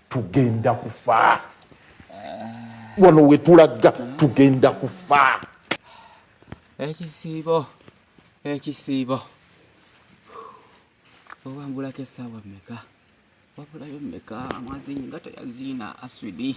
tugenda kufa wano wetulaga tugenda kufa ekisiibo ekisiibo obambulako esaawa meka wabulayo meka mwazinyi nga teyaziina aswidi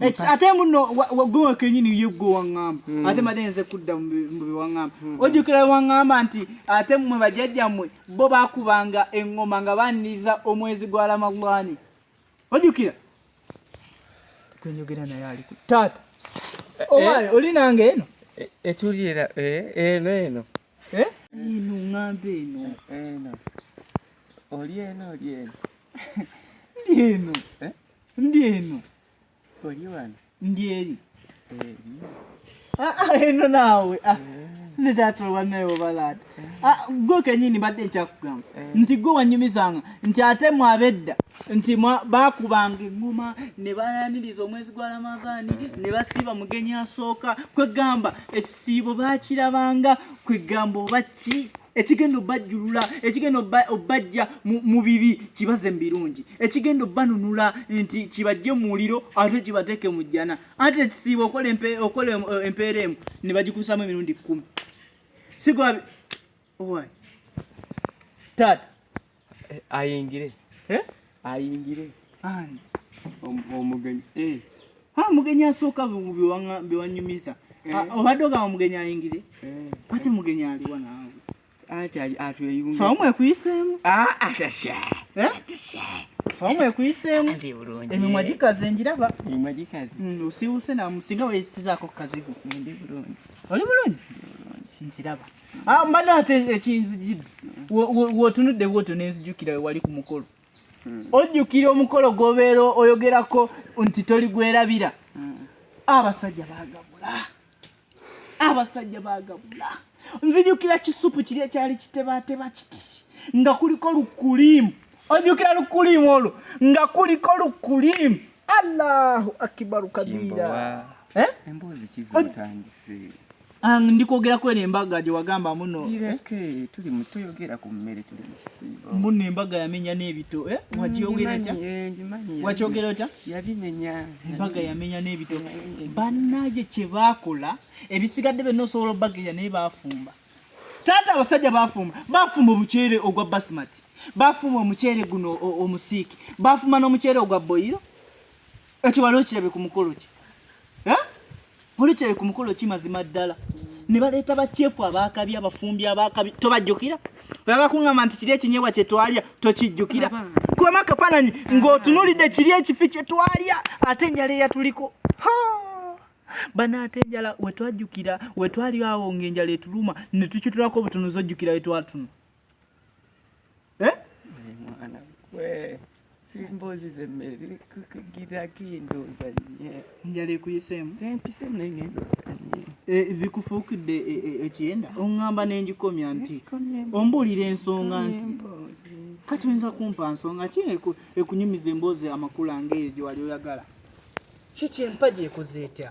ate muno gwe kenyini ye gwe waŋŋamba hmm. ate made nze kudda mu biwaŋŋamba hmm. ojjukira waŋŋamba nti ate mmwe bajjajjammwe bo bakubanga eŋŋoma nga baniriza omwezi gwa ramadhani ojjukira kwenyogera naye ali ku taata eh, eh. owaye oli nange eno eh, etuliera eno eno eno ŋŋamba eno eno oli eno oli eno ndi eno ndi eno oli wano ndi eri eno naawe ah, eh. ne taata olwanaye obalaata ah, gwe kenyini mbadde nkyakugamba eh. nti gwe wanyumizanga nti ate mwabedda nti bakubanga eŋŋuma ne bayaniriza omwezi gwa ramadaani ne basiiba mugenyi asooka kwegamba ekisiibo bakirabanga kwegamba oba ki ekigenda obajjulula ekigenda obajja mu bibi kibaze mu birungi ekigenda obanunula nti kibajje mu muliro ate kibateeke mu jjana ate ekisiiba okola eh, empeera emu ne bagikusamu emirundi kkumi sigwabi owa taata Eh, ayingire eh? ayingire omugenyi eh. ha mugenyi asooka bewanyumiza ah, obadde ogamba mugenyi ayingire ate mugenyi aliwa naawe sawa mwekuyiseemu ah, ah, sawa mwekuyiseemu emimwa gikaze engiraba mm, osiwuse namusinga weyisizaako kukazigo oli bulungi nkiraba Ah, mbadde ate ekinzijidde wotunudde bwotyo nenzijukira wewali ku mukolo hmm. ojjukira omukolo gwobeera oyogerako nti toli gwerabira hmm. abasajja bagabula abasajja bagabula nzijukira kisupu kiri ekyali kitebateba kiti nga kuliko lukulimu ojjukira lukulimu olwo nga kuliko lukulimu allahu akibaru kabira eh? emboozi kizotandise Ang ndi kwogera kweno embaga gye wagamba muno. Gireke eh? tuli mu tuyogera ku mmere tuli mu kisiibo. Muno embaga yamenya n'ebito eh? Mm, Wakyogera otya? Eh, Wakyogera otya? Yabimenya. Embaga yamenya n'ebito. Bannage kye baakola ebisigadde byonna osobola obbageya naye baafumba. Taata abasajja baafumba baafumba omuceere ogwa basimati baafumba omuceere guno omusiiki baafumba n'omuceere ogwa boyiro Ekyo wali okirabye ku mukolo ki? Eh? Wali okirabye ku mukolo ki mazima ddala? Ne baleeta bakyefu abaakabi abafumbi abaakabi tobajjukira? Oyagala kuŋŋamba nti kiri ekinyebwa kye twalya tokijjukira? Kubamu akafaananyi ng'otunuulidde kiri ekifi kye twalya ate enjala eyatuliko. Banaate enjala we twajjukira we twali awo ng'enjala etuluma ne tukitulako obutunuzi ojjukira we twatunu. eh? mwana gwe simbozi zemmere kukugira kindooza nye njala ekuyiseemu empisemu naye ngendooza nye eh, bikufuukidde eh, eh, ekiyenda oŋŋamba ne ngikomya nti ombuulira ensonga nti kati oyinza kumpa nsonga ki ekunyumiza emboozi amakula ng'eyo gye wali oyagala kiki empagi ekoze etya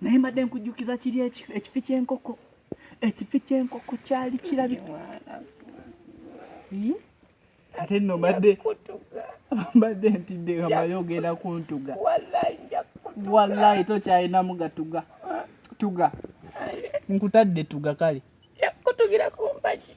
naye mbadde nkujjukiza kiri ekifi kyenkoko ekifi kyenkoko kyali kirabi ate nno mbadde mbadde ntidde kamayo ogenda kuntuga wallahi tokyalinamu gatuga tuga nkutadde tuga kale yakutugira kumpagi